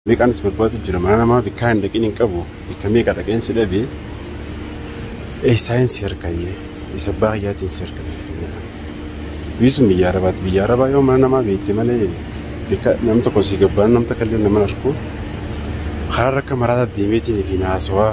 Meeqaan si barbaadu jira mana namaa bikkaa hin dhaqin hin qabu bikka meeqa dhaqeen si dhabe eessaa hin si harkayyee isa abbaa kiyyaatiin si harka biisuun biyya arabaati biyya arabaa yoo mana namaa beekte malee bikka nam tokko si gabbaan nam takka illee nama hin arku karaa rakka maraataa deemeetiin fi naasawaa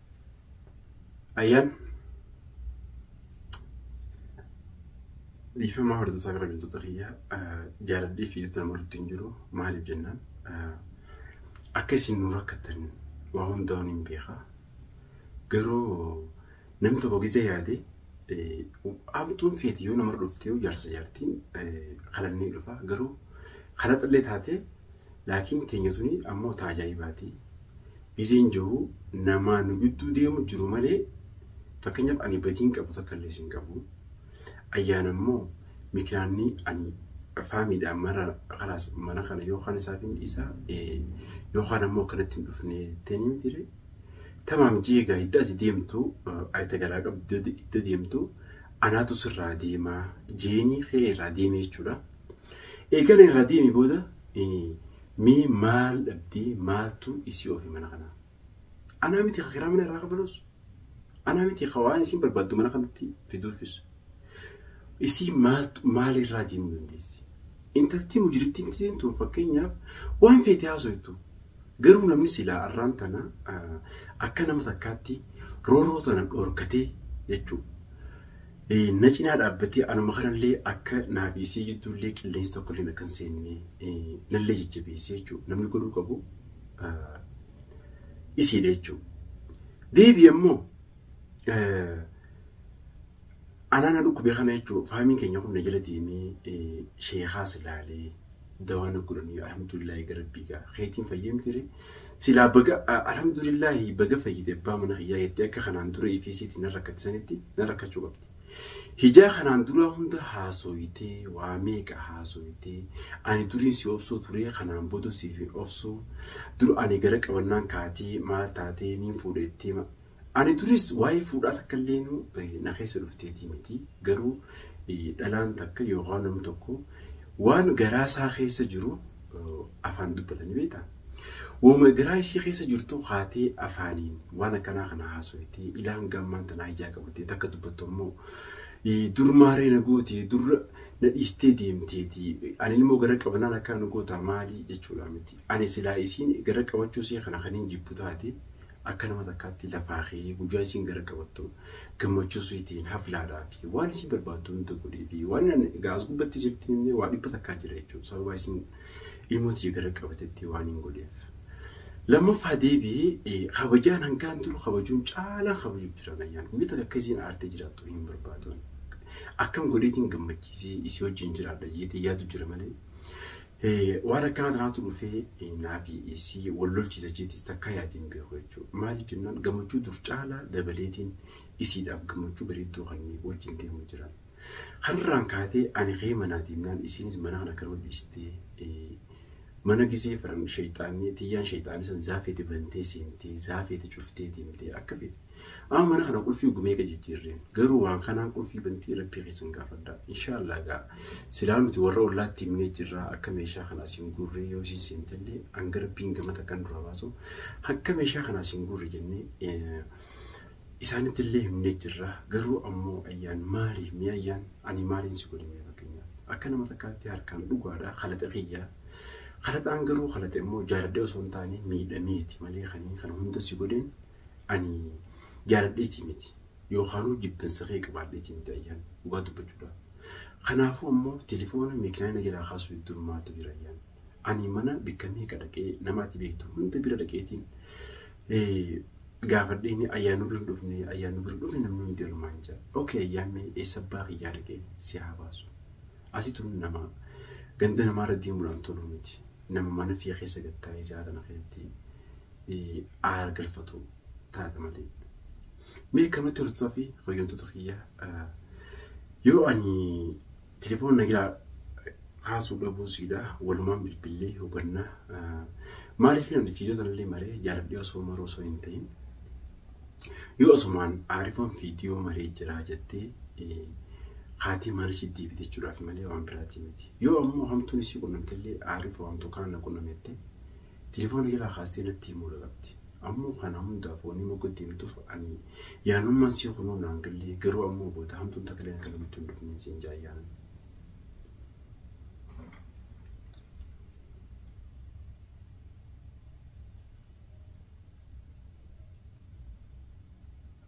Ayyaan dhiifama hordofaa gara biyyoota kiyyaa jaaladhee fi jettota nama irratti hin jiru maaliif jennaan akka isin nu rakkattan waa hundaa'uun hin beeka garuu nam tokko gizee yaade amtuun feeti yoo nama dhuftee jaarsa jaartiin kalannee dhufa garuu kalaxallee taatee Laakiin teenya tuni ammoo ta ajaa'ibaati. Biziin jiru namaa nu gidduu deemu jiru malee fakkeenyaaf ani badiin qabu takkallees hin qabu. Ayyaan ammoo mikinaanni ani faamiidhaan mara kalaas mana kana yookaan isaaf hin dhiisa yookaan ammoo akkanatti hin dhufne teeni mitire. Tamaam jeegaa idda ati deemtu ayita galaa qabdu idda deemtu anaatu sirraa deemaa jeenii kee irraa deemee jechuudha. Eegana irraa deemi booda mee maal dhabdee maaltu isii oofe mana kanaa? Anaa miti ka kiraa mana irraa kafalus? Anaa miti ka waan isiin barbaaddu mana kanatti fiduufis? Isii maalirraa deemuu dandeessi? Intaltii mujrittiin tiin tun fakkeenyaaf waan feete haasoytu garuu namni silaa arraan tana akka nama takkaatti rooroo tana dhorkatee jechuudha. Na cinaa dhaabbatee anuma kanallee akka naa fi isii jidduullee qilleensi tokkolleen akka hin seenne nallee jajjabeessee jechuudha. Namni godhuu qabu isiidha jechuudha. Deebii ammoo anaa na dhukkube kana jechuudha. Faamiin keenya kun na jala deemee sheekaas ilaalee. dawaa na godhanii alhamdulillahi ga rabbii ga keetiin fayyee miti ree silaa baga a- alhamdulillahi baga fayyite abbaa mana kiyyaa jettee akka kanaan dura ETCtti na rakkate sanitti na rakkachuu qabdi. Hijaa kanaan duraa hunda haasooyitee waa meeqa haasooyitee ani duriin si obsuu turee kanaan booda siif hin obsuu dur ani gara qabannaan kaatee maal taatee niin fuudhettee ma- Ani duris waa'ee fuudhaa takka illeenuu na keessa dhufteetii miti. Garuu dhalaan takka yookaan namni tokko waan garaa isaa keessa jiru afaan dubbatanii beektaa? Wooma garaa isii keessa jirtu kaatee afaaniin waan akkanaa kana haasoftee ilaan gammaan tanaa ijaa qabattee takka dubbattu ammoo dur maaree na gootee dur na dhiistee deemteeti ani ilmoo gara qabannaan akkaa nu gootaa maali jechuudha miti. Ani silaa isiin gara qabachuu isii kana kan hin jibbu taate Akka nama takkaatti lafaa kee guyyaa isiin gara qabattu gammachuu siitiin haflaadhaa fi waan isii barbaaddu hunda godhii fi waan ani egaa as gubbatti isifti himne waa dhibba takkaa jira jechuudha sababa isiin ilmoo tiyya gara qabatetti waan hin godheef. Lammaffaa deebi'ee kabajaan hangaan turu kabajuun caalaan kabajuu jiran ayyaan guyyaa takka akka isiin aartee jiraattu hin barbaaduun akkam godheetiin gammachiisee isii wajjin jiraadha jeetee yaadu jira malee Waan akkanaa tanaatu dhufee naafi isii wal lolchiisa jeetis takkaa yaadee hin beeku jechuudha. Maaliif jennaan gammachuu dur caalaa dabaleetiin isiidhaaf gammachuu bareedduu kanneen wajjin deemu jira. Kanarraan kaatee ani ka'ee manaa deemnaan isiinis mana kana akkanuma dhiistee mana gizee faran sheexaanni tiyyaan sheexaanni san zaafeeti bantee seentee zaafeeti cuftee deemtee akka feete Amma mana kana qulfii wagga meeqa jijjiirreen garuu waan kanaan qulfii bantii rabbii keessan gaafadhaa inshaallah gaa silaa nuti warra ollaatti himnee jirraa akka meeshaa kana asiin guurree yoo isiin seentellee hanga rabbiin gama takkan dura baasu hanga meeshaa kana asiin guurre jennee eh, isaanitti illee himnee jirra garuu ammoo ayyaan maali mee ayyaan ani maaliin si godhe mee fakkeenyaaf akka nama takkaatti harkaan dhugaadha kalaxa kiyyaa kalaxaan garuu kalaxe immoo jaaladhee osoo hin taane miidhameeti malee kaniin kana hunda si godheen ani jaaladheetii miti yookaanuu jibbinsa kee qabaadheetii miti ayyaan dhugaa dubbachuudha. Kanaafuu ammoo telefoona meekinaa na jalaa kaasuu hedduun maaltu jira ayyaan. Ani mana bikka meeqa dhaqee nama ati beektu hunda bira dhaqeetiin gaafadheen ayyaan nu bira hin dhufne ayyaan nu bira hin dhufne namni hundi alumaan jira. Okee ayyaan mee eessa abbaa kiyyaa dhaqee si haa baasu. Ati tun nama ganda namaarra deemuudhaan tolu miti. Nama mana fiyya keessa gattaa'ee sa'a tana keessatti aara galfatu taata malee. Mee akkamatti hortota fi fayyumtoota kiyya yoo ani telefoona nagiraa kaasuu dhabuu siidaa walumaan bilbillee hubannaa maaliif namni fiidota illee maree jaaladhee osoo maruu osoo hin ta'in yoo osumaan aarifoon fiidiyoo maree jiraa jettee haatii maal si deebite jechuudhaaf malee waan biraatii miti yoo ammoo hamtuun isii qunnamte illee aariif waan tokko kana qunnamette Telefoona jalaa kaastee natti himuu dhaqabdi. Ammoo kana hundaaf wanni mogga itti himtuuf ani yaanummaan sii kunuu naan gallee garuu ammoo booda hamtuun takka illee akka namatti hin dhufneen siin jaa yaanan.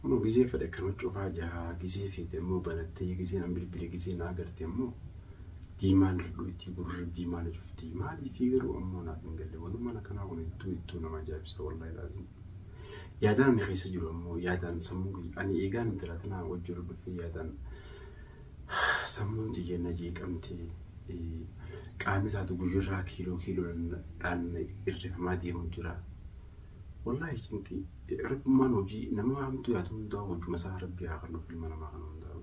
Kunoo gizee fedhe akkana cufaa jira gizee feete immoo banattee gizee nan bilbile gizee naa garte immoo diimaan irdhuu ittii gurri diimaa na cuftii maaliifii garuu ammoo naaf hin galle wanumaan akkanaa kun ittuu ittuu nama ajaa'ibsa wallahi laazim yaadaan ani keessa jiru ammoo yaadaan sammuu kiyya ani eegaan intala tanaa wajji irra dhufee yaadaan sammuun tiyya na jeeqamtee qaamni isaatu guyyarraa kiiloo kiiloodhaan irrifamaa deemu jira. Wallaahi cinqii rabbummaan hojii nama hamtuu yaadu hundaa hojuma isaa rabbii haa kennuuf ilma namaa kana hundaa.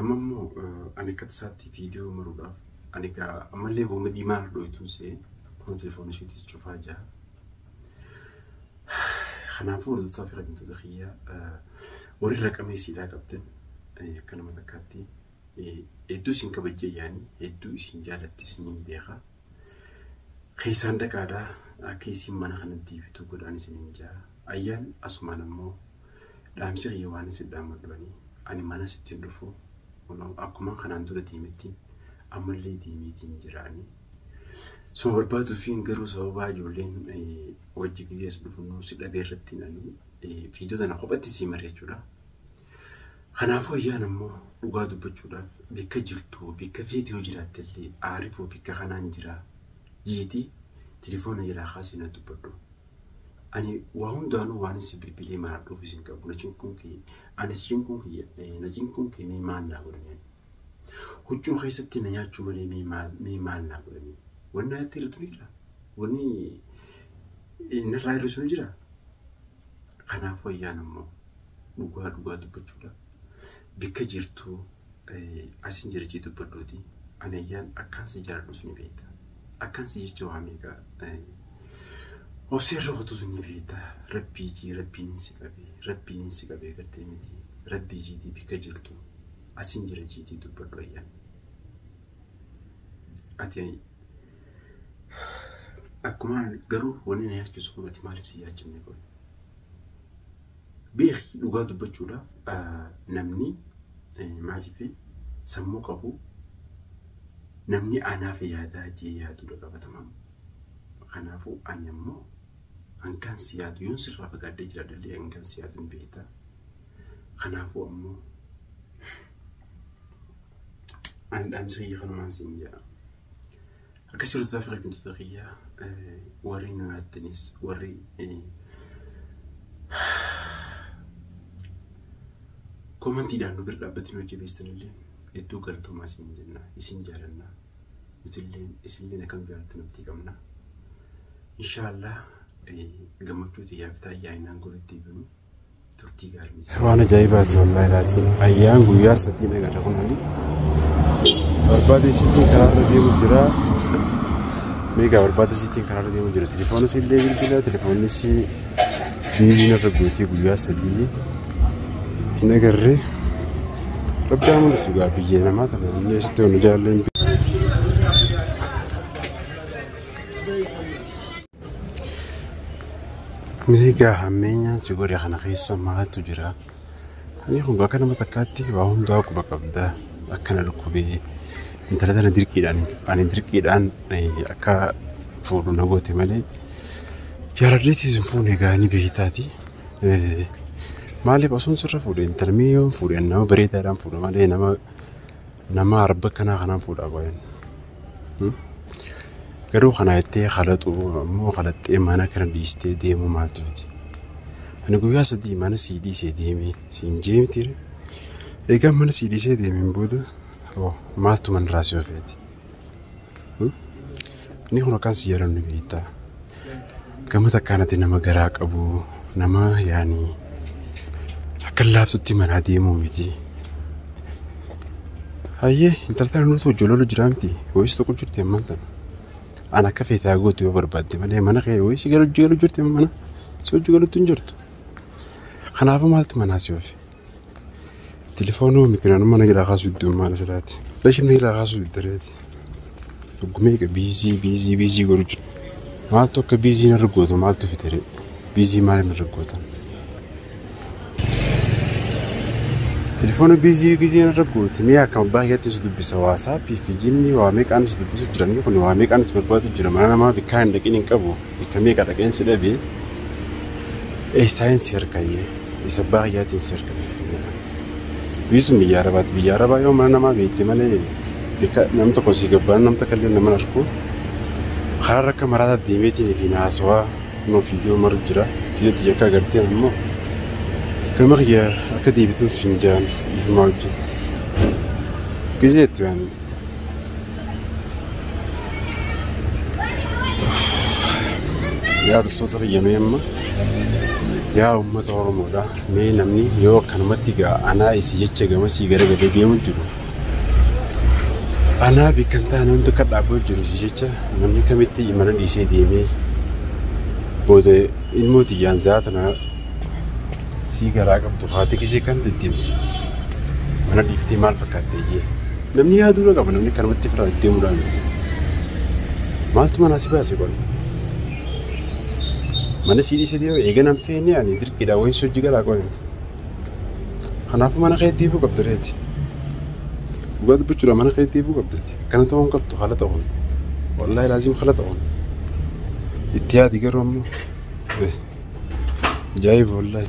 Amma immoo ani akka tasaatti viidiyoo maruudhaaf ani egaa ammallee hooma diimaa irra dhooytuun se'ee kunoo telefoona isheetis cufaa jira. Kanaafuu hordoftoota fi kabajamtoota kiyya warri raqamee siidhaa qabdan akka nama takkaatti hedduu isin kabajjee yaani hedduu isin jaalattis niin beeka. Keessaan dhaqaadha akka isiin mana kana deebitu godhaan isinin jaa. Ayyaan asumaan ammoo dhaamsi kiyya waan isin dhaamadhu ani ani mana sittin dhufu kunoo akkumaan kanaan dura deemetti ammallee deemeetiin jira ani. Suma barbaaduufiin garuu sababaa ijoolleen wajji gidees dhufu nuu si dhabee irrattiin ani fiidota na kophatti sii mari'achuudha. Kanaafuu Ayyaan ammoo dhugaa dubbachuudhaaf bikka jirtuu bikka feete yoo jiraattellee Aarifoo bikka kanaan jira jeeti tilifoona jalaa kaasii na dubbadhu. Ani waa hundaanuu waanin si bilbilee maradhuufis hin qabu na cinquun kee ani si cinquun kiyya eh, na cinquun kee mee maal naa godhamee ani. Huccuu keessatti na nyaachuu malee mee maal mee maal naa godhamee. Wanni irratti hir'atu ni jira. Wanni eh, narraa hir'isu ni jira. Kanaafuu Ayyaan ammoo dhugaa dhugaa dubbachuudha bikka jirtu asin jirachii dubbadhuuti anayyaan akkaan si jaaladhus ni beekta akkaan si jecha waa meeqa obsee irra kutus ni beekta rabbii jii rabbiin hin si qabee rabbiin hin si qabee gartee miti rabbii jiitii bikka jirtu asin jirachiitii dubbadhu ayyaan ati akkuma garuu wanni na yaachisu kun ati maaliif si yaachifne kun Beeki dhugaa dubbachuudhaaf namni maaliif sammuu qabu namni anaaf yaadaa jee yaadudha qabatamaan. Kanaafuu ani ammoo hangaan si yaadu yoon sirraa fagaadhee jiraadhallee hangaan si yaadu ni beekta. Kanaafuu ammoo ani dhaamsa kiyya kanumaan siin jedha. Akkas jirtu taaf kabajamtoota kiyya warri nu yaattanis warri koomantiidhaan nu bira dhaabbatanii hojjebeestan illee hedduu galatoomaa isin jenna isin jaalanna nutillee isinillee akkam jaalattan abdii qabna. Inshaallah gammachuu tiyyaaf taayyaa innaan goritti binu. turtii gaarii isaa. Waan ajaa'ibaati wallaahi laaziim. Ayyaan guyyaa sadii dhagata kun ani. Barbaada isiitiin karaarra deemu jira. Meegaa barbaada isiitiin karaarra deemu jira. Telefoona illee bilbila telefoonni isii biizii narra gootii guyyaa sadii hin agarre. Rabbi haa mul'isu gaa biyya namaa tana namni asitti waan jaalleen. Meegaa hammeenyaan si godhe kana keessa maaltu jira? Ani kun bakka nama takkaatti waa hundaa quba qabda. Akkana dhukkubee intala tana dirqiidhaan ani dirqiidhaan eh, akka fuudhu na goote malee jaaladheetis hin fuune egaa ni beektaati. Eh, Maaliif osoo sirra fuudhe intala mee yoo hin fuudhe ani nama bareedaadhaan fuudha malee nama Namaa arba kanaa kanaan fuudhaa baay'een. Garuu kana jettee kalaxuu ammoo kalaxxee mana kana dhiistee deemuu maaltu fide? Ani guyyaa sadii mana sii dhiisee deemee siin jee miti. Egaa mana sii dhiisee deemeen booda maaltu manarraa si ofeeti? Inni kun akkaan si jaalannu beektaa. Gama takkaan ati nama garaa qabu nama yaani akka laaftutti manaa deemuu miti. Hayyee intalta nuti hojjololu jiraa miti wayis tokko jirti ammaan tana. An akka feetaa gootu yoo barbaadde malee mana kee wayis gara hojii galu jirti mana si hojii galutti hin jirtu. Kanaafuu maaltu manaa si oofe? Telefoonuu mikinaan mana gidhaa kaasuu iddoo maal asirraati. Rashin mana gidhaa kaasuu iddareeti. Dhuggumee egaa biizii biizii biizii godhu jiru. Maaltu akka biizii narra gootu maaltu fitere? Biizii maal narra gootan? Telefoona biizii biizii narra gooti. Mee akka abbaa keetti si dubbisa waasaappii fi jinnii waa meeqaan si dubbisu jiran kun waa meeqaan si barbaadu jira mana namaa bikkaa hin dhaqin hin qabu bikka meeqa dhaqeen si dhabee. Ee saayinsii harkayyee. Isa abbaa kiyyaatiin si argame. Biisuun biyya Arabaatti. Biyya Arabaa yoo mana namaa beekte malee bakka nam tokko si gabbaan nam takka illee nama arku. Karaa rakka maraataa deemeetiin ifiin haasawaa nama fiidiyoo maru jira. Fiidiyootti jakkaa gartee ammoo gama kiyya akka deebituuf hin jaan dhiifamaa wajjin. Gizeetti waan yaa dursoota fayyamee amma yaa uummata oromoodha mee namni yoo akkanumatti gaa anaa isi jecha gamasii gara gadee deemu jiru anaa beekan taane hundi akka dhaaboo jiru si jecha namni kamitti mana dhiisee deemee booda ilmoo tiyyaan zaa tana sii garaa qabdu haati kisee kan deddeemtu mana dhiiftee maal fakkaatte iyyee Namni yaaduu na qaba namni kanumatti firaa deddeemuudhaa miti. Maaltu manaa si baase qoy? Mana sii dhiisee deema eega nan feene ani dirqiidhaa wayin sojji galaa qoy. Kanaafuu mana kee deebuu qabda reeti. Dhugaa dubbachuudhaa mana kee deebuu qabdati. Akkana ta'uu hin qabdu haala ta'uun. Wallaahi laaziim haala ta'uun. Itti yaadi garuu ammoo. Ajaa'iba wallaahi.